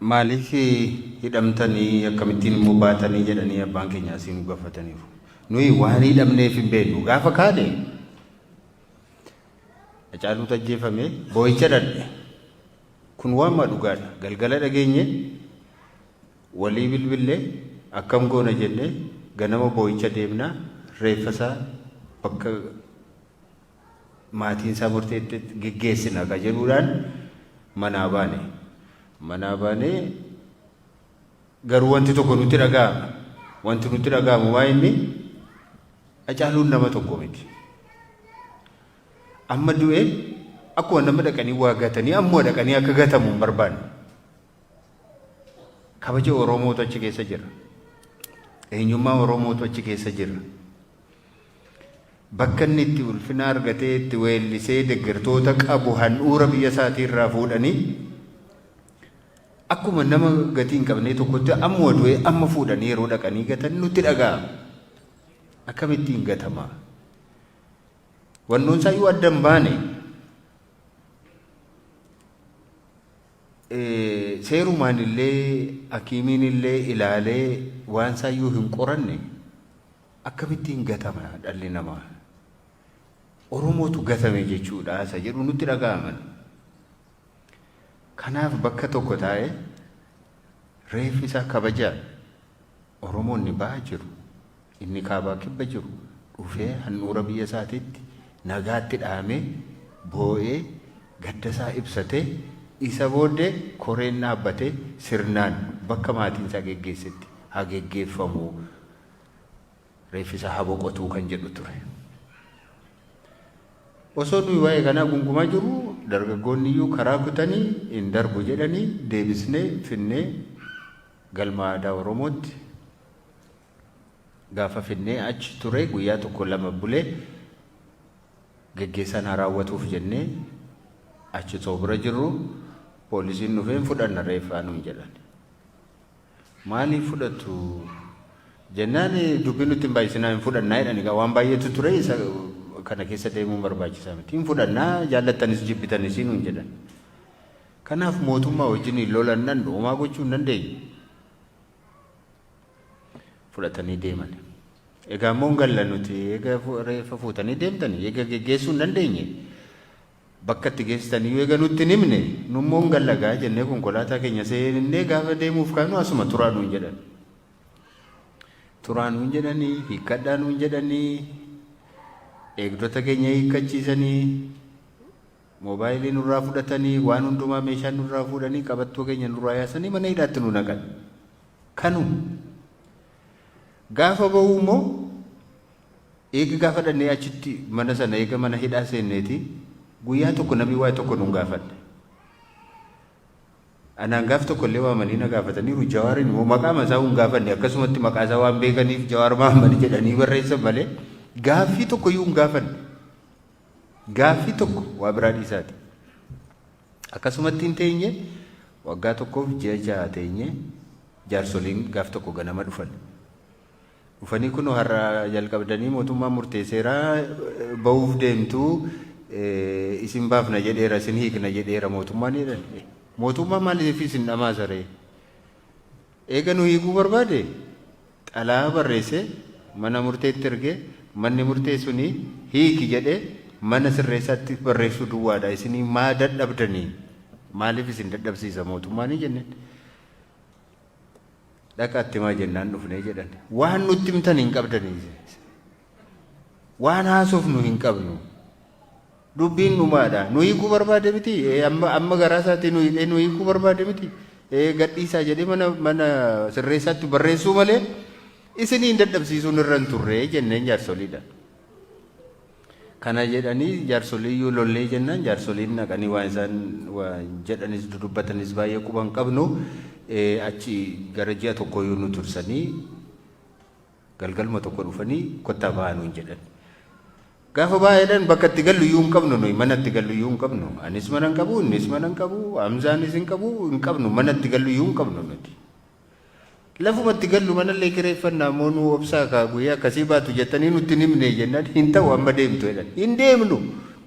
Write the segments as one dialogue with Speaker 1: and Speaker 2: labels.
Speaker 1: Maaliif hidhamtanii akkamittiin immoo baatanii jedhanii abbaan keenya asii nu gaafataniiru. Nuyi waan hidhamneef hin beeknu. Gaafa kaane Hacaaluutu ajjeefame boo'icha dhadhe. Kun waanuma dhugaadha. Galgala dhageenye walii bilbillee akkam goona jennee ganama boo'icha deemnaa reeffasaa bakka maatiinsaa murteetti geggeessina ka jedhuudhaan manaa baane. Manaa baanee garuu wanti tokko nutti dhaga'ame. Wanti nutti dhaga'amu maa inni Hacaaluun nama tokko miti. Amma du'e akkuma nama dhaqanii waa gatanii ammuma dhaqanii akka gatamu hin barbaanne. Kabaja Oromootu achi keessa jira. Eenyummaa Oromootu achi keessa jira. Bakka inni itti ulfina argatee itti weellisee deggertoota qabu handhuura biyya isaatii irraa fuudhanii akkuma nama gatii hin qabnee tokkotti amma du'ee amma fuudhanii yeroo dhaqanii gatan nutti dhaga'a. Akkamittiin gatama? Wannoon isaa iyyuu adda hin baane. seerumaan illee hakiimiin illee ilaalee waan isaayyuu hin qoranne akkamittiin gatama dhalli namaa oromootu gatame jechuudha isa jedhu nutti dhaga'aman kanaaf bakka tokko taa'e reeffi isaa kabajaa oromoonni ba'aa jiru Inni kaabaa kibba jiru dhufee handhuura biyya isaatiitti nagaatti dhaamee, boo'ee, gadda isaa ibsatee, isa booddee koreen dhaabbatee sirnaan bakka maatiin isaa geggeessetti haa geggeeffamu, reeffi isaa haa boqotuu kan jedhu ture. Osoo nuyi waa'ee kanaa gungumaa jirruu dargaggoonni iyyuu karaa kutanii hin darbu jedhanii deebisnee finnee galma aadaa Oromootti Gaafa fidnee achi ture guyyaa tokko lama bule geggeessaan haa raawwatuuf jennee achi otoo bira jirru poolisiin dhufee hin fudhanna reeffaa nuun jedhan. Maaliif fudhattu jennaan dubbii nutti hin baay'isinaa hin fudhannaa jedhan egaa waan baay'eetu ture isa kana keessa deemuun barbaachisaa miti hin fudhannaa jaallattanis jibbitanis nuun jedhan. Kanaaf mootummaa wajjin hin lolannan homaa gochuu hin dandeenyu. fudhatanii deeman. Egaa immoo hin galla nuti eega fu- reeffa fuutanii deemtanii eega geggeessuu hin dandeenye bakka itti geessitan iyyuu eega nutti hin himne nu immoo hin galla gaa jennee konkolaataa keenya seennee gaafa deemuuf kaanu asuma turaa nuun jedhan. Turaa nuun jedhanii hiikkadhaa nuun jedhanii eegdota keenya hiikkachiisanii moobaayilii nurraa fudhatanii waan hundumaa meeshaa nurraa fuudhanii qabattoo keenya nurraa yaasanii mana hidhaatti nu naqan. Kanu. Gaafa ba'uu immoo eega gaafa dhannee achitti mana sana eega mana hidhaa seenneeti guyyaa tokko namni waa'ee tokko nun gaafanne. Anaan gaaf tokko illee waamanii na gaafataniiru jawaariin immoo maqaa masaa hin gaafanne akkasumatti maqaa isaa waan beekaniif jawaar maammad jedhanii barreessan malee gaaffii tokko iyyuu hin gaafanne. Gaaffii tokko waa biraa dhiisaati. Akkasumatti hin teenye, waggaa tokkoof ji'a ja'a teenye, jaarsoliin gaaf tokko ganama dhufan. Dhufanii kunoo har'a jalqabdanii mootummaan murteesseera, ba'uuf deemtu, isin baafna jedheera, isin hiikna jedheera mootummaan jedhan. Mootummaan maaliif isin dhamaasa ree? Eega nu hiikuu barbaade xalayaa barreessee mana murteetti ergee manni murtee suni hiiki jedhee mana sirreessaatti barreessuu duwwaadha isinii maa dadhabdanii maaliif isin dadhabsiisa mootummaanii jenneen dhaqa itti himaa jennaan dhufnee jedhan waan nutti himtan hin qabdanii waan haasofnu hin qabnu Dubbiin dhumaadha. Nu hiikuu barbaade miti. Amma garaa isaatii nu hidhee nu hiikuu barbaade miti. Gadhiisaa jedhee mana mana sirreessaatti barreessuu malee isiniin dadhabsiisuun irra hin turre jenneen jaarsoliidhaan. Kana jedhanii jaarsoliiyyuu lollee jennaan jaarsoliin dhaqanii waan isaan jedhanis dudubbatanis baay'ee quban qabnu achi gara ji'a tokkooyyuu nu tursanii Galgaluma tokko dhufanii kottaa ba'aa nuun jedhan. Gaafa ba'aa jedhan bakka itti gallu iyyuu hin qabnu nuyi mana itti gallu iyyuu hin qabnu. Anis mana hin qabu, innis mana hin qabu, Hamzaanis hin qabu, hin qabnu mana itti gallu iyyuu hin qabnu nuti. Lafuma itti gallu manallee kireeffannaa moo nuu obsaa kaa guyyaa akkasii baatu jettanii nutti hin himne jennaan hin ta'u amma deemtu jedhan. Hin deemnu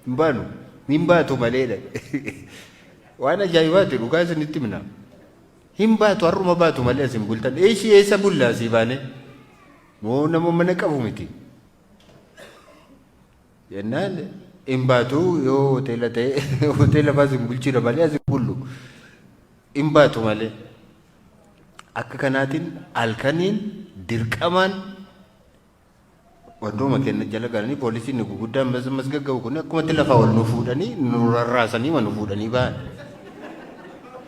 Speaker 1: hin baanu hin baatu malee jedhan. Waan ajaa'ibaati dhugaa isinitti himna. Hin baatu har'uma baatu malee as hin bultan eeshi eessa bulla asii baane moo nama mana qabu miti jennaan hin baatu yoo hoteela ta'e hoteela baas hin bulchina malee as hin bullu hin baatu malee akka kanaatiin halkaniin dirqamaan Wantooma kenna jala galanii poolisiin nu guguddaan mas gagga'u kun akkumatti lafaa ol nu fuudhanii nu rarraasanii ma nu fuudhanii ba'an.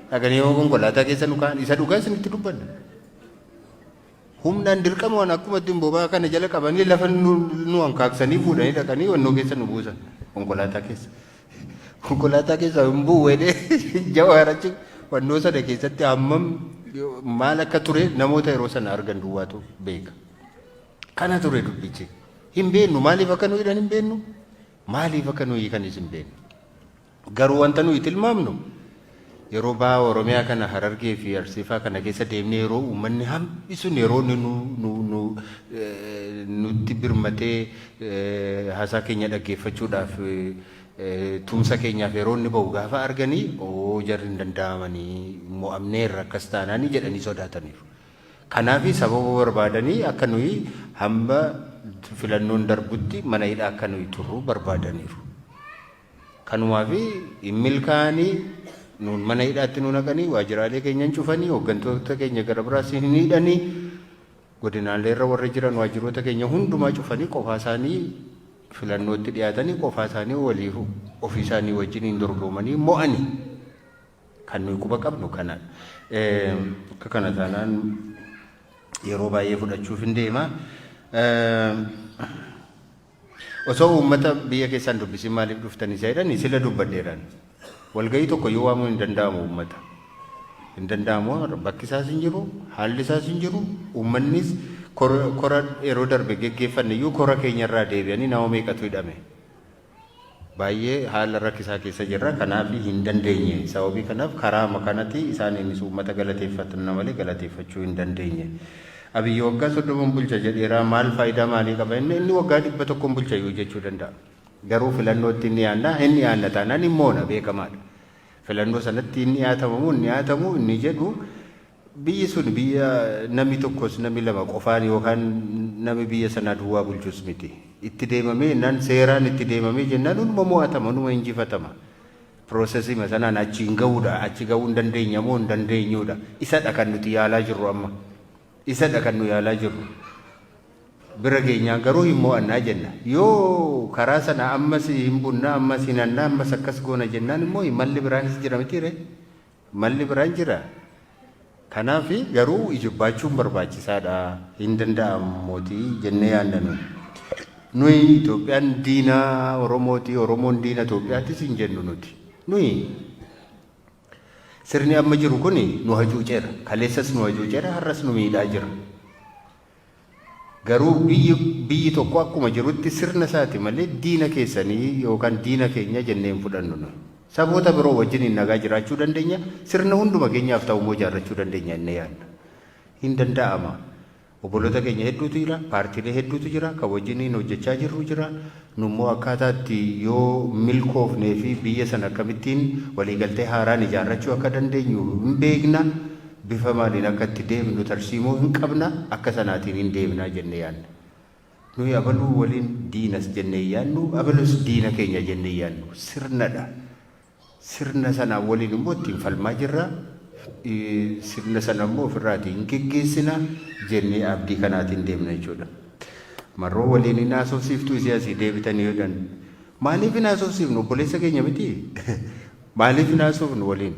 Speaker 1: Dhaganii yoo konkolaataa keessa nu ka'an isa dhugaa isinitti dubbanna. Humnaan dirqama waan akkumatti bobaa kana jala qabanii lafa nu hankaaksanii fuudhanii dhaqanii wannoo keessa nu buusan konkolaataa keessa. Konkolaataa keessa hin bu'uudhee jawaarachi wannoo sana keessatti hammam maal akka ture namoota yeroo sana argan duwwaatu beeka. Kana ture dubbichi. Hin beennu maaliif akka nu hidhan hin beennu maaliif akka nu hiikanis hin beennu. Garuu wanta nuyi tilmaamnu yeroo baha Oromiyaa kana Harargee fi Arsiifaa kana keessa deemnee yeroo uummanni hammi sun yeroo inni nu, nu, nu, eh, nutti birmatee eh, haasaa keenya dhaggeeffachuudhaaf eh, tumsa keenyaaf yeroo inni bahu gaafa arganii oo jarri hin danda'amanii mo'amneerra akkas taanaanii jedhanii sodaataniiru. Kanaafi sababa barbaadanii akka nuyi hamma filannoon darbutti mana hidhaa akka nuyi turru barbaadaniiru. Kanumaafi hin milkaa'anii nuun mana hidhaatti nu naqanii waajjiraalee keenya hin cufanii, hoggantoota keenya gara biraas hin hidhanii, godinaaleerra warri jiran waajjiroota keenya hundumaa cufanii qofaa isaanii filannootti dhiyaatanii qofaa isaanii walii ofiisaanii wajjiniin dorgomanii mo'ani. Kan nuyi quba qabnu kana. Akka kana taanaan yeroo baay'ee fudhachuuf hin deema. Osoo uummata biyya keessaan dubbisiin maaliif dhuftanii isa jedhanii sila dubbadheeraan. Walgahii tokko yoo waamuu hin danda'amu uummata. Hin danda'amu bakki isaas hin jiru, haalli isaas hin jiru, uummannis kora yeroo darbe geggeeffanne iyyuu kora keenyarraa deebi'anii nama meeqatu hidhame. Baay'ee haala rakkisaa keessa jirra. Kanaafi hin dandeenye. Sababii kanaaf karaama kanati isaaniinis uummata galateeffatna malee galateeffachuu hin dandeenye. Abiyyi waggaa 30n bulcha jedheera. Maal faayidaa maalii qaba inni? Inni waggaa 100n bulchayyuu jechuu danda'a. Garuu filannootti hin dhiyaanna. Hin dhiyaanna taanaan hin moona beekamaadha. Filannoo sanatti hin dhiyaatama moo hin dhiyaatamu inni jedhu Biyyi sun biyya nami tokkos, nami lama qofaan yookaan nami biyya sanaa duwwaa bulchus miti. Itti deemamee ennaan seeraan itti deemamee jennaan unuma mo'atama, unuma injifatama. Piroosesiima sanaan achi hin ga'uudha. Achi ga'uu hin dandeenya moo hin dandeenyuudha. Isadha kan nuti yaalaa jirru amma. Isadha kan nu yaalaa jirru. Bira geenyaan garuu hin mo'annaa jenna. Yoo karaa sana ammas hin bunna, ammas hin hanna, ammas akkas goona jennaan immoo imalli biraanis jira mitiiree? Malli biraan jira? Kanaaf garuu ijibbaachuun barbaachisaadha. Hin danda'amuuti jennee yaadna nuyi. Nuyi Itoophiyaan diina Oromooti, Oromoon diina Itoophiyaatis hin jennu nuti. Nuyi sirni amma jiru kuni nu hacuuceera. Kaleessas nu hacuuceera, har'as nu miidhaa jira. Garuu biyyi biyyi tokko akkuma jirutti sirna isaati malee diina keessanii yookaan diina keenya jennee hin fudhannu nuyi. Saboota biroo wajjiniin nagaa jiraachuu dandeenya, sirna hunduma keenyaaf ta'u immoo ijaarrachuu dandeenya jennee yaadna. Hin danda'ama. Obboloota keenya hedduutu jira, paartiilee hedduutu jira, kan wajjiniin hojjechaa jirru jira, Nu immoo akkaataa itti yoo milkoofnee fi biyya sana akkamittiin waliigaltee haaraan ijaarrachuu akka dandeenyu hin beekna, bifa maaliin akka itti deemnu tarsiimoo hin qabna, akka sanaatiin hin deemna jennee yaadna. Nuyi abaluu waliin diinas jennee hin yaadnu, abalus diina keenya jennee hin yaadnu. Sirna dha. Sirna sanaa waliin immoo ittiin falmaa jirra. Sirna sana immoo ofirraatii hin geggeessina jennee abdii kanaatiin deemna jechuudha. Marroo waliin hin haasofsiiftuu isii asii deebitanii yoo jedhan maaliif hin haasofsiifnu obboleessa keenya miti maaliif hin haasofnu waliin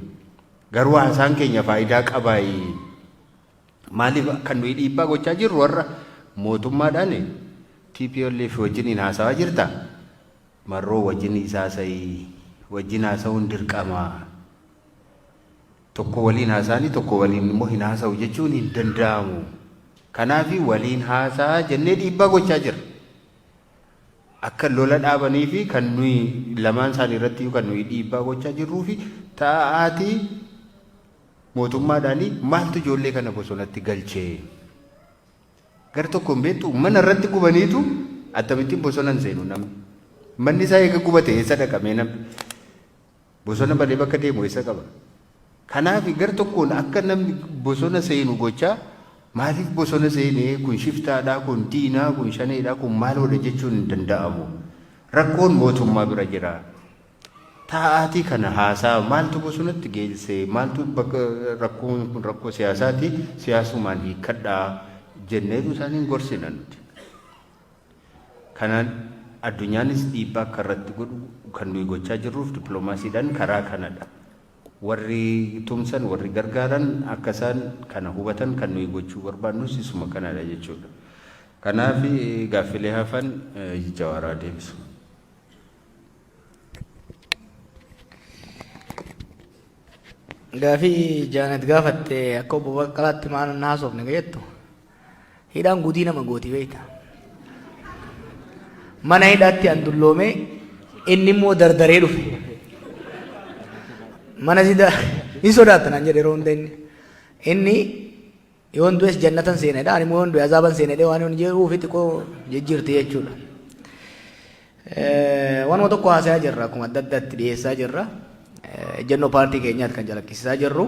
Speaker 1: garuu haasaan keenya faayidaa qabaayi maaliif kan nuyi dhiibbaa gochaa jirru warra mootummaadhaan TPLF wajjiniin haasawaa jirta. Marroo wajin is haasayi. Wajjin haasa'uun dirqama. Tokko waliin haasa'anii tokko waliin immoo hin haasa'u jechuun hin danda'amu. Kanaafi waliin haasa'aa jennee dhiibbaa gochaa jirra. Akka lola dhaabaniifi kan nuyi lamaan isaanii irratti kan nuyi dhiibbaa gochaa jirruufi taa'aatii mootummaadhaanii maaltu ijoollee kana bosonatti galchee? Gar tokkoon beektuu mana irratti gubaniitu attamittiin bosona hin seenu namni. Manni isaa eega gubate eessa dhaqa mee namni? Bosona malee bakka deemu eessa qaba? Kanaaf gar tokkoon akka namni bosona seenu gochaa maaliif bosona seenee kun shiftaadhaa kun diinaa kun shaneedhaa kun maaloodha jechuun hin danda'amu. Rakkoon mootummaa bira jira. Taa'aatii kana haasa'a. Maaltu bosonatti geesse? Maaltu rakkoon kun rakkoo siyaasaati, siyaasumaan hiikkadhaa jenneetu isaaniin gorsina nuti. Kanaan addunyaanis dhiibbaa akka irratti godhu kan nuyi gochaa jirruuf dippiloomaasiidhaan karaa kanadha. Warri tumsan, warri gargaaran akka isaan kana hubatan kan nuyi gochuu barbaannus isuma kanadha jechuudha. Kanaaf gaaffilee hafan Jawaaraa deebisu.
Speaker 2: Gaafii Jaanet gaafatte akka obbo Baqqalaatti maal na haasofne ka jettu hidhaan gudii nama gooti beekta. Mana hidhaatti an dulloomee inni immoo dardaree dhufe. Mana sida hin sodaattan an jedhe yeroo hunda inni. Inni Yoon du'es jannatan seenedha. Ani immoo yoon du'e azaaban seenedha. Waan yoon jedhu uufi xiqqoo jijjiirti jechuudha. Wanuma tokko haasayaa jirra akkuma adda addaatti dhiyeessaa jirra. Ejjennoo paartii keenyaati kan calaqqisiisaa jirru.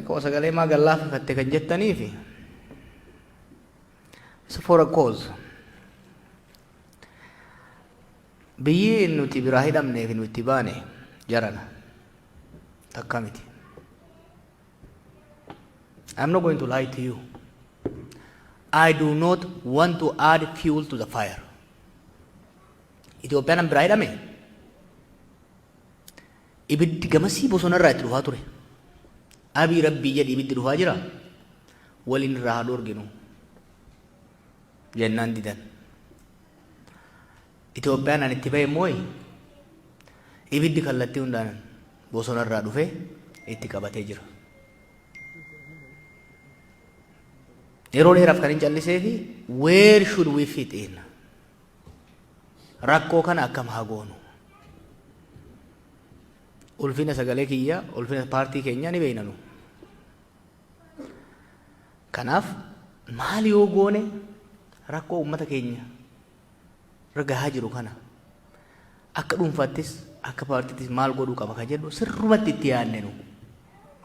Speaker 2: Qoo sagalee maa gallaafatte kan jettanii fi for a cause. Biyyi nuti biraa hidhamnee fi nu itti baane jarana. Takka miti. I'm not going to lie to you. I do not want to add fuel to the fire. Itoophiyaan biraa hidhame ibiddi gamasii bosona irraa itti dhufaa ture. Abii rabbii jedhi ibiddi dhufaa jira. Waliin irraa haa dhoorginu. Jennaan didan. Itoophiyaan ani itti bahe moo'e ibiddi kallattii hundaan bosonarraa dhufe itti qabatee jira. Yeroo dheeraaf kan hin callisee fi where should we fit in? Rakkoo kana akkam haa goonu? Ulfina sagalee kiyyaa, ulfina paartii keenyaa ni beekna nu. Kanaaf maal yoo goone rakkoo uummata keenya irra gahaa jiru kana akka dhuunfaattis akka paartiittis maal godhuu qaba kan jedhu sirrumatti itti yaadne nu.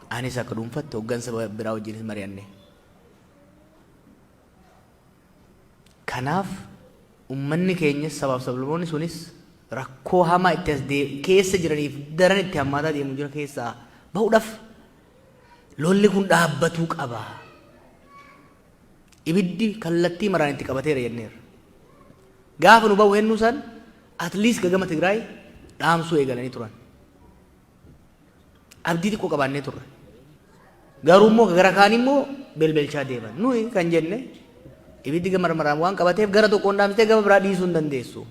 Speaker 2: Anis akka dhuunfatti hooggansa biraa wajjinis mari'anne. Kanaaf uummanni keenyas sabaaf sablamoonni sunis rakkoo hamaa itti as keessa jiraniif daran itti hammaataa deemu jira keessaa bahuudhaaf Lolli kun dhaabbatuu qaba. Ibiddi kallattii maraan itti qabateera jenneerra. Gaafa nu bahu hennuu san at least gagama Tigraay dhaamsuu eegalanii turan. Abdii xiqqoo qabaannee turre. Garuu immoo gara kaan immoo belbelchaa deeman. Nuyi kan jenne ibiddi gama maraan waan qabateef gara tokkoon dhaamsitee gama biraa dhiisuu hin dandeessu.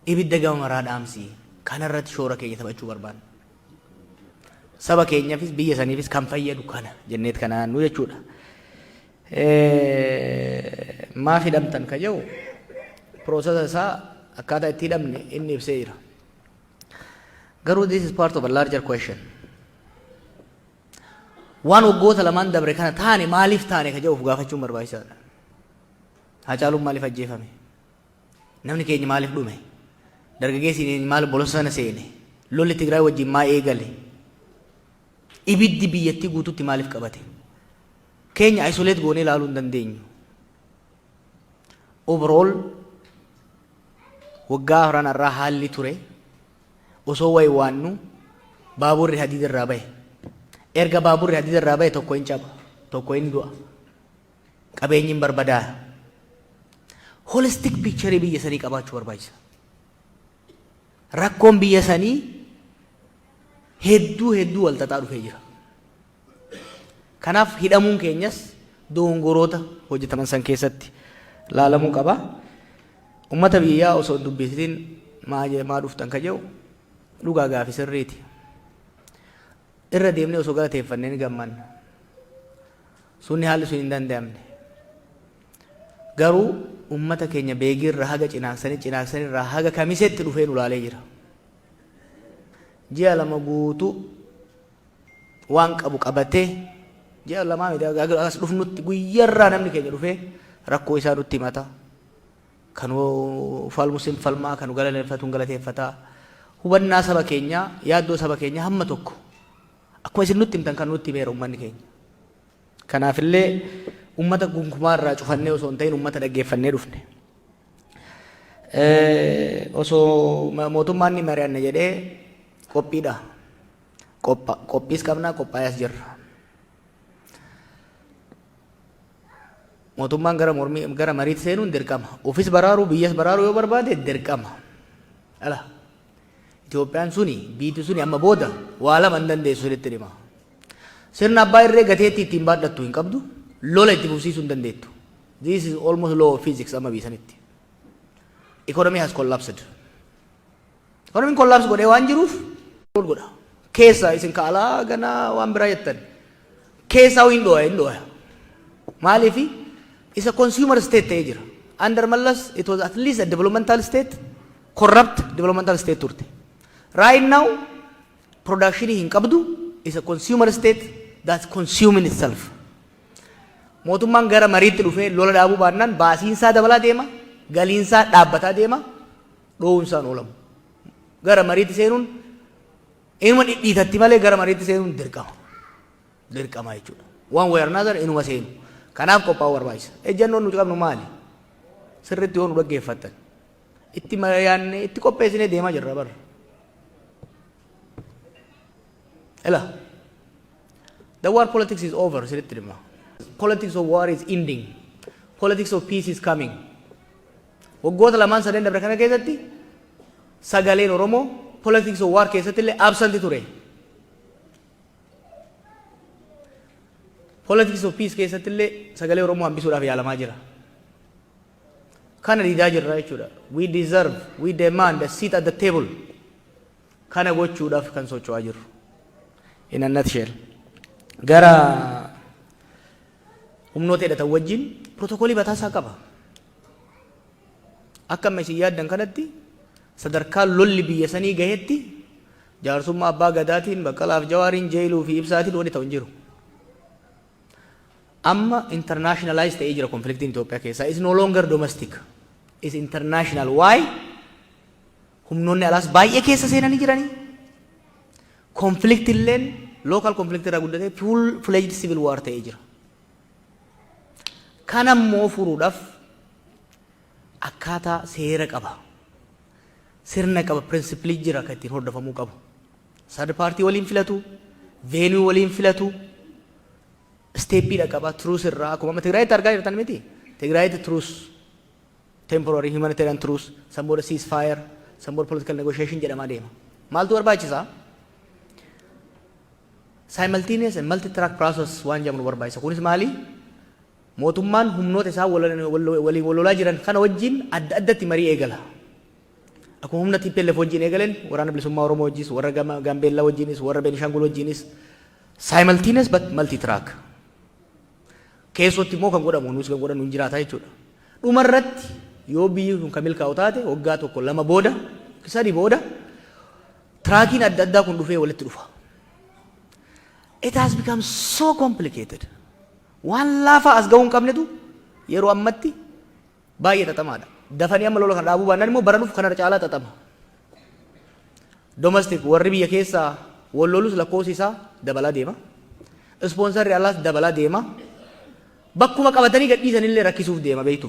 Speaker 2: ibidda gama maraa dhaamsi. Kana irratti shoora keenya taphachuu barbaanna. Saba keenyafis biyya saniifis kan fayyadu kana jenneet kana yaannu jechuudha. Maaf hidhamtan ka jedhu piroosesa isaa akkaataa itti hidhamne inni ibsee jira. Garuu this is part of a larger question. Waan waggoota lamaan dabre kana taane maaliif taane ka jedhuuf gaafachuun barbaachisaadha. Hacaaluun maaliif ajjeefame? Namni keenya maaliif dhume? Dargageessi keenya maaliif bolosa sana seene? Lolli Tigraay wajjin maa eegale? Ibiddi biyyattii guututti maaliif qabate? Keenya isolate goonee ilaaluu hin dandeenyu. Overall waggaa afran irraa haalli ture osoo waywaannu baaburri hadiida irraa bahe. Erga baaburri hadiida irraa bahe tokko hin caba, tokko hin du'a. Qabeenyi hin barbadaa'a. Holistic picture biyya sanii qabaachuu barbaachisa. Rakkoon biyya sanii hedduu hedduu wal xaxaa dhufee jira. Kanaaf hidhamuun keenyas dogongoroota hojjetaman san keessatti laalamuu qaba. Ummata biyyaa osoo hin dubbisitin maa maa dhuftan ka jedhu dhugaa gaafi sirriiti. Irra deemnee osoo galateeffannee ni gammanna. Sunni haalli sun hin danda'amne. Garuu ummata keenya Beegiirraa haga Cinaaksanii, Cinaaksanirraa haga Kamiseetti dhufee nu laalee jira. Ji'a lama guutuu waan qabu qabatee, ji'a lamaa miti haga as dhufnutti guyyarraa namni keenya dhufee rakkoo isaa nutti himata. Kan nu falmus hin falma, kan nu galateeffatu hin galateeffata. Hubannaa saba keenyaa, yaaddoo saba keenyaa hamma tokko akkuma isin nutti himtan kan nutti himeera ummanni keenya. Kanaaf illee ummata gunkumaa irraa cufannee osoo hin ta'in ummata dhaggeeffannee dhufne. Osoo mootummaan ni mari'anna jedhee qophiidha. Qophiis qabna, qophaa'ees jirra. Mootummaan gara mormii gara mariitti seenuun dirqama. Ofis baraaruu biyyas baraaruu yoo barbaade dirqama. Ala. Itoophiyaan suni biiti suni amma booda waa lama hin dandeessu sinitti dhima. Sirna abbaa irree gateetti ittiin baadhattu hin qabdu. Lola itti fufsiisuu hin dandeettu. This is almost law of physics amma biisanitti. Economy has collapsed. Economy collapse godhee waan jiruuf roll godha. Keessa isin ka alaa ganaa waan biraa jettan. Keessaa hin dhooya hin dhooya. Maaliif isa consumer state ta'ee jira. Under Mallas it was at least a developmental state corrupt developmental state turte. Right now production hin qabdu is a consumer state that's consuming itself. Mootummaan gara mariitti dhufee lola dhaabuu baannaan baasiinsaa dabalaa deema, galiinsaa dhaabbataa deema, dhoowuun isaan oolamu. Gara mariitti seenuun inuma dhidhiitatti malee gara mariitti seenuun dirqama. Dirqama jechuudha. One way or another inuma seenu. Kanaaf qophaa'uu barbaachisa. Ejjannoon nuti qabnu maali? Sirriitti yoo nu dhaggeeffattan. Itti mari'annee itti qopheessinee deemaa jirra bara. Ela. The war politics is over sirriitti dhimma. Politics of war is ending. Politics of peace is coming. Waggoota lamaan sadeen dabre kana keessatti sagaleen Oromoo politics of war keessatti illee absent ture. Politics of peace keessatti illee sagalee Oromoo hambisuudhaaf yaalamaa jira. Kana diidaa jirra jechuudha. We deserve, we demand a seat at the table. Kana gochuudhaaf kan socho'aa jirru. In a nutshell. Gara humnoota hidhatan wajjin protookoolii mataasaa qaba. Akka amma isin yaaddan kanatti sadarkaa lolli biyya sanii gahetti jaarsummaa Abbaa Gadaatiin, Baqqalaaf Jawaariin, Jeeyiluu fi Ibsaatiin wanni ta'u hin jiru. Amma internationalize ta'ee jira konfliktiin Itoophiyaa keessaa. It's no longer domestic. It's international. Why? Humnoonni alaas baay'ee keessa seenanii jiranii. Konflikti illeen local konflikti irraa guddatee full fledged civil war ta'ee jira. Kana immoo furuudhaf akkaataa seera qaba, sirna qaba, principle jira kan ittiin hordofamuu qabu. Third party waliin filatu, venue waliin filatu, step dha qaba, truce irraa akkuma amma Tigraayitti argaa jirtan miti. Tigraayitti truce, temporary humanitarian truce, san booda cease fire, san booda political negotiation jedhamaa deema. Maaltu barbaachisa? Simultaneous and multi-track process waan jedhamu nu barbaachisa. Kunis maali? Mootummaan humnoota isaan waliin wal lolaa jiran kana wajjin adda addatti marii eegala. Akkuma humna tplf wajjin eegaleen Waraana Bilisummaa Oromoo wajjinis, warra Gaambeellaa wajjinis, warra Beenishaangul wajjinis simultaneous but multi-track keessootti immoo kan godhamu nuus kan godhannu hin jiraata jechuudha. Dhuma irratti yoo biyyi kun kan milkaa'u taate waggaa tokko lama booda sadii booda Tiraakiin adda addaa kun dhufee walitti dhufa. It has become so complicated. Waan laafaa as ga'uu hin qabnetu yeroo ammatti baay'ee xaxamaadha. Dafanii amma lola kana dhaabuu baannaan immoo bara dhufu kanarra caalaa xaxama. Domestic warri biyya keessaa wal lolus lakkoofsi isaa dabalaa deema. Ispoonsarri alaas dabalaa deema. Bakkuma qabatanii gadhiisanillee rakkisuuf deema beektu.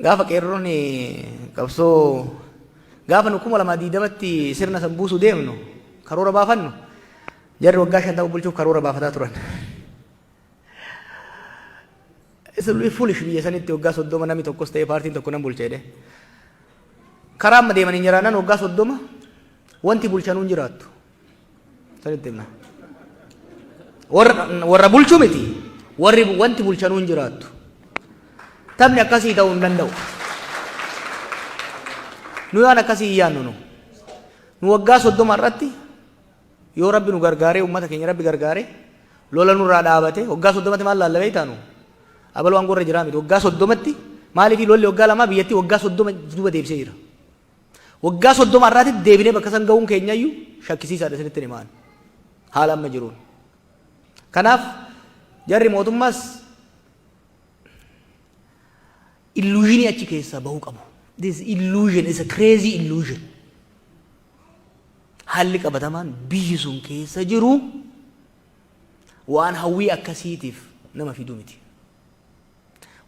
Speaker 2: Gaafa qeerroon qabsoo gaafa nu kuma lamaa diidamatti sirna san buusu deemnu karoora baafannu jarri waggaa shantama bulchuuf karoora baafataa turan. Isin foolish biyya sanitti waggaa soddoma namni tokkos ta'ee paartiin tokko nan bulcheedhe. Karaa amma deemanii jiraannan waggaa soddoma wanti bulchanuu hin jiraattu. Sanitti himna. Warra bulchu miti. Warri wanti bulchanuu hin jiraattu. Taphni akkasii ta'uu hin danda'u. Nu waan akkasii hin yaannu nu. Nu waggaa soddoma irratti yoo rabbi nu gargaaree uummata keenya rabbi gargaaree lola nurraa dhaabate waggaa soddomatti maal laalla beektaa nu? Abaluu aangoo irra jiraa miti. Waggaa soddomatti maaliif lolli waggaa lamaa biyyattii waggaa soddoma duuba deebisee jira. Waggaa 30 har'aatitti deebinee bakka san ga'uun keenyayyuu shakkisiisaadha isinittin hima ani. Haala amma jiruun. Kanaaf jarri mootummaas illuushinii achi keessaa bahuu qabu. This illusion is a crazy illusion. Haalli qabatamaan biyyi sun keessa jiru waan hawwii akkasiitiif nama fiduu miti.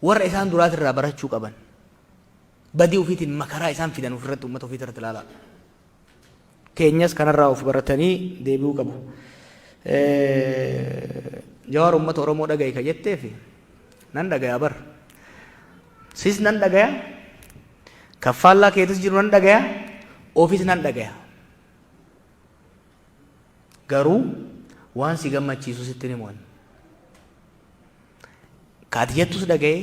Speaker 2: Warra isaan duraatirraa barachuu qaban. badii ufiitiin makaraa isaan fidan ufirratti ummata ufiit irratti ilaalaa. keenyas kanarraa of baratanii deebi'uu qabu. Jawaar ummata Oromoo dhaga'i ka jetteef nan dhagaya bar. Sis nan dhagaya, kaffaallaa keetis jiru nan dhagaya, ofis nan dhagaya. Garuu waan si gammachiisu sittin himu an. Ka ati jettus dhaga'ee,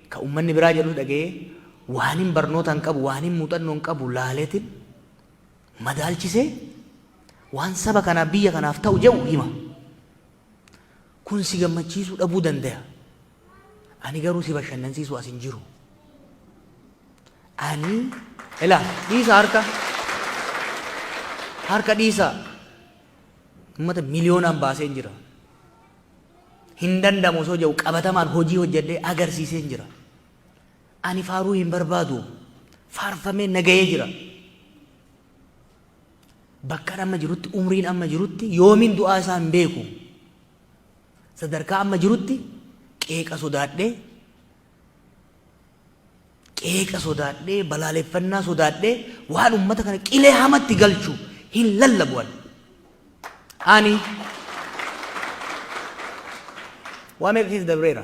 Speaker 2: ka ummanni biraa jedhus dhaga'ee, waanin barnoota hin qabu, waanin muuxannoo hin qabu laaleetin madaalchisee waan saba kanaaf biyya kanaaf ta'u jedhu hima. Kun si gammachiisuu dhabuu dandaya. Ani garuu si bashannansiisu as hin jiru. Ani ilaa dhiisa harka harka dhiisa ummata miliyoonaan baaseen jira. Hin danda'amu osoo jedhu qabatamaan hojii hojjedhee agarsiiseen jira. Ani faaruu hin barbaadu. Faarfamee nagayee jira. Bakkan amma jirutti, umriin amma jirutti, yoomiin du'aa isaa hin beeku. Sadarkaa amma jirutti qeeqa sodaadhee, qeeqa sodaadhee, balaaleffannaa sodaadhee waan ummata kana qilee hamatti galchu hin lallabu ani. Ani waa meeqa keessa dabreera.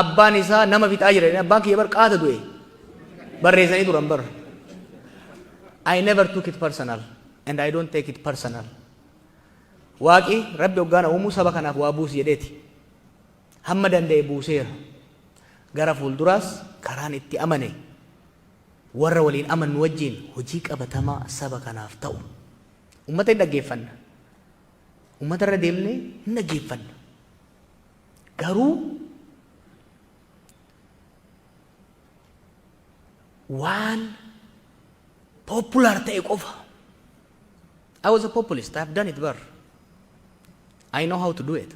Speaker 2: abbaan isaa nama fixaa jira jedhanii abbaan kiyya bar qaata du'e barreessanii turan bar I never took it personal and I don't take it personal waaqi rabbi hoggaana uumuu saba kanaaf waa buusi jedheeti hamma danda'e buuseera gara fuulduraas karaan itti amane warra waliin amannu wajjin hojii qabatamaa saba kanaaf ta'u ummata hin dhaggeeffanna ummata irra deemnee hin dhaggeeffanna Garuu waan popular ta'e qofa. I was a populist. I've done it bar. I know how to do it.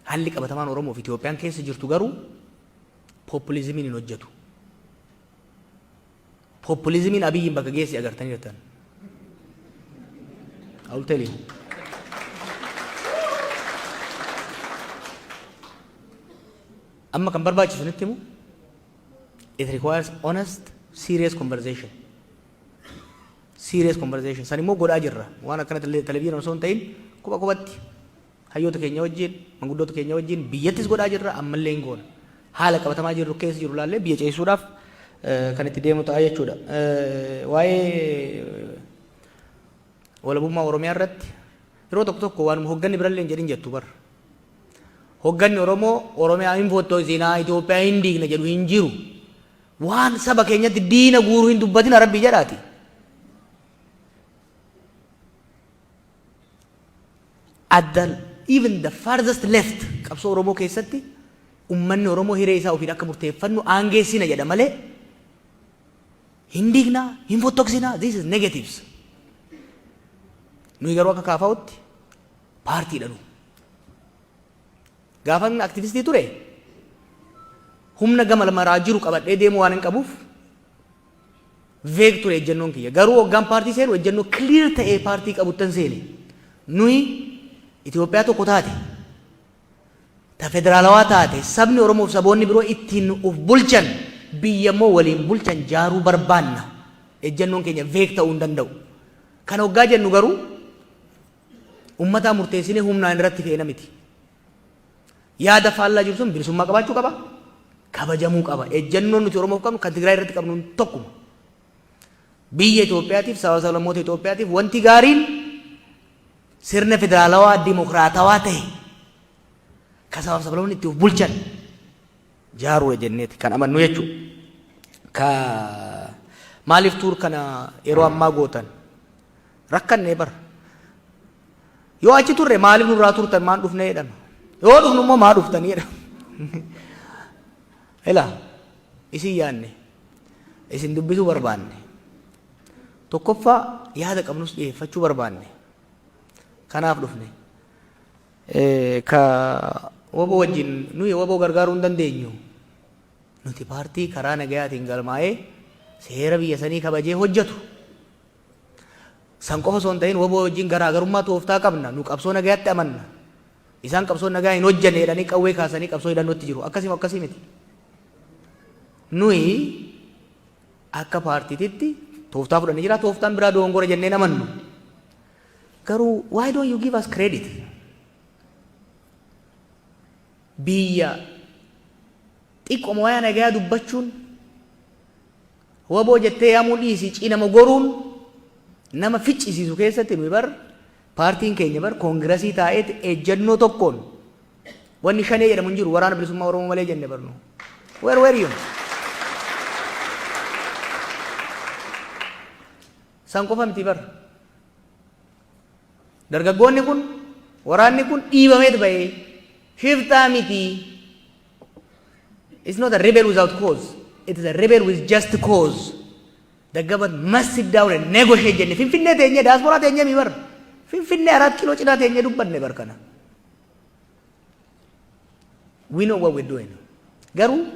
Speaker 2: Haalli qabatamaan Oromoof Itoophiyaan keessa jirtu garuu populizimiin hin hojjetu. Populizimiin Abiyyiin bakka geesse agartanii jirtan. I will tell you. Amma kan barbaachisu nitti himu it requires honest, serious conversation. Serious conversation. San immoo godhaa jirra. Waan akkanatti televiziyoon osoo hin ta'in kopha kophatti Hayyoota keenya wajjin, manguddoota keenya wajjin biyyattis godhaa jirra, ammallee hin goona. Haala qabatamaa jirru keessa jiru ilaallee biyya ceesisuudhaaf kan itti deemnu ta'a jechuudha. Waa'ee walabummaa Oromiyaa irratti yeroo tokko tokko waanuma hogganni birallee hin jedhin jettu bar. Hogganni Oromoo Oromiyaa hin fottoisinaa, Itoophiyaa hin diigna jedhu hin jiru. Waan saba keenyatti diina guuru hin dubbatina rabbii jedhaati. At the even the farthest left qabsoo Oromoo keessatti ummanni Oromoo hiree isaa ofiin akka murteeffannu aangeessina jedha malee hin diigna, hin fottoksina, this is negatives. Nuyi garuu akka kaafaa'utti paartiidha nu. Gaafan aktivistii ture humna gama maraa jiru qabadhee deemuu waan hin qabuuf Veeg ture ejjennoon kiyya. Garuu hoggaan paartii seenu ejjennoo clear ta'e paartii qabuttan seene. Nuyi Itoophiyaa tokko taate, ta federaalawaa taate, sabni Oromoo fi saboonni biroo ittiin uf bulchan, biyya immoo waliin bulchan jaaruu barbaanna. Ejjennoon keenya veeg ta'uu hin danda'u. Kana hoggaa jennu garuu ummataa murteessinee humnaan irratti feena miti. Yaada faallaa jiru sun bilisummaa qabaachuu qaba, kabajamuu qaba. Ejjannoon nuti Oromoof qabnu kan Tigraay irratti qabnuun tokkuma. Biyya Itoophiyaatiif, saba sablammoota Itoophiyaatiif wanti gaariin sirna federaalawaa dimokiraatawaa ta'e ka sabaaf sablammoonni itti of bulchan jaaruudha jenneeti kan amannu jechuudha. Ka maaliif tuur kana yeroo ammaa gootan rakkannee bara. Yoo achi turre maaliif nurraa turtan maan dhufne jedhama. Yoo dhufnu immoo maa dhuftanii jedhama. Ilaa isin yaadne isin dubbisuu barbaanne tokkoffaa yaada qabnus dhiyeeffachuu barbaanne kanaaf dhufne. ka wbo wajjin nuyi wbo gargaaruu hin dandeenyu. Nuti paartii karaa nagayaatiin galmaa'ee seera biyya sanii kabajee hojjatu. San qofa osoo hin ta'in wbo wajjin garaa garummaa tooftaa qabna. Nu qabsoo nagayaatti amanna. Isaan qabsoo nagayaa hin hojjanne jedhanii qawwee kaasanii qabsoo hidhannootti jiru. Akkasii moo akkasii miti? Nuyi akka paartiititti tooftaa fudhannee jira. Tooftaan biraa dogongora jennee hin amannu. Garuu why don't you give us credit biyya xiqqoma wayaa nagayaa dubbachuun waboo jettee yaamuu dhiisii ciinama goruun nama ficcisiisu keessatti nuyi bar paartiin keenya bar koongirasii taa'eet ejjennoo tokkoon wanni shanee jedhamu hin jiru waraana bilisummaa oromoo malee jenne barnu where were you San qofa miti bar. Dargaggoonni kun, waraanni kun dhiibameet ba'e. Shiftaa miti. It's not a rebel without cause. It is a rebel with just cause. The government must sit down and negotiate jenne. Finfinnee teenyee daasporaa teenyee mi bar. Finfinnee araat kiloo cinaa teenyee dubbanne bar kana. We know what we're doing. Garuu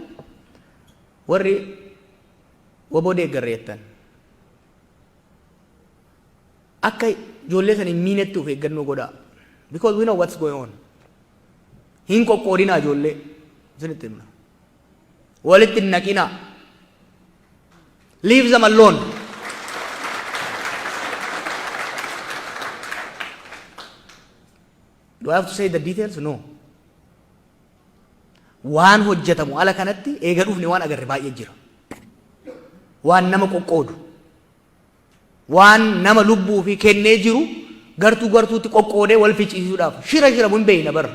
Speaker 2: warri Wbo deeggarra jettan akka ijoollee san hin miinetti of eeggannoo godhaa because we know what's going on hin qoqqoodinaa ijoollee isinitti himna walitti hin naqinaa leave them alone do I have to say the details no Waan hojjatamu ala kanatti eega dhufne waan agarre baay'ee jira. Waan nama qoqqoodu, waan nama lubbuu fi kennee jiru gartuu gartuutti qoqqoodee wal ficisiisuudhaaf shira shiramu hin beeyna bar.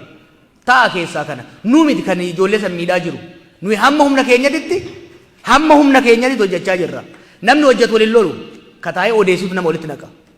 Speaker 2: Ta'a keessaa kana. Nu miti kan ijoollee san miidhaa jiru. Nuyi hamma humna keenyatitti hamma humna keenyatitti hojjachaa jirra. Namni hojjatu wal hin lolu. Ka taa'ee odeessutu nama walitti naqa.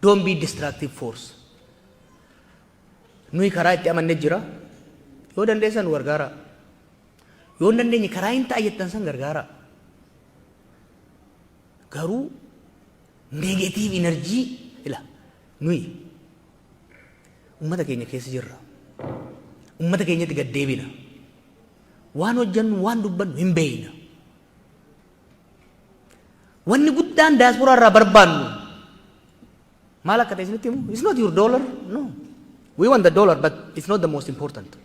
Speaker 2: Don't be destructive force. Nuyi karaa itti amanne jira. Yoo dandeessan nu gargaara. Yoo hin dandeenye karaa hin ta'a jettan san gargaara. Garuu neegatiiv inarjii ila nuyi ummata keenya keessa jirra. Ummata keenyatti gad deebina. Waan hojjannu waan dubbannu hin beeyna. Wanni guddaan diaspora irraa barbaannu maal akka ta'e isinitti himu? It's not your dollar, no. We want the dollar, but it's not the most important.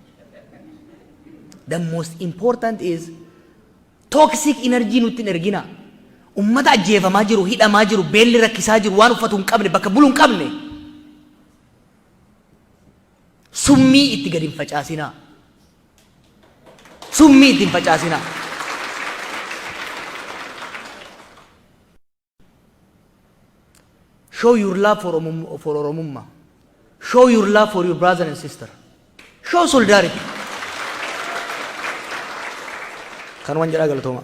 Speaker 2: The most important is toxic energy nutti hin ergina. Ummata ajjeefamaa jiru, hidhamaa jiru, beelli rakkisaa jiru, waan uffatu hin qabne, bakka bulu hin qabne. Summii itti gadi hin facaasinaa. Summii itti hin facaasinaa. Show your love for, omum, for Oromummaa. Show your love for your brother and sister. Show solidarity. Kanuman jedhaa galatooma.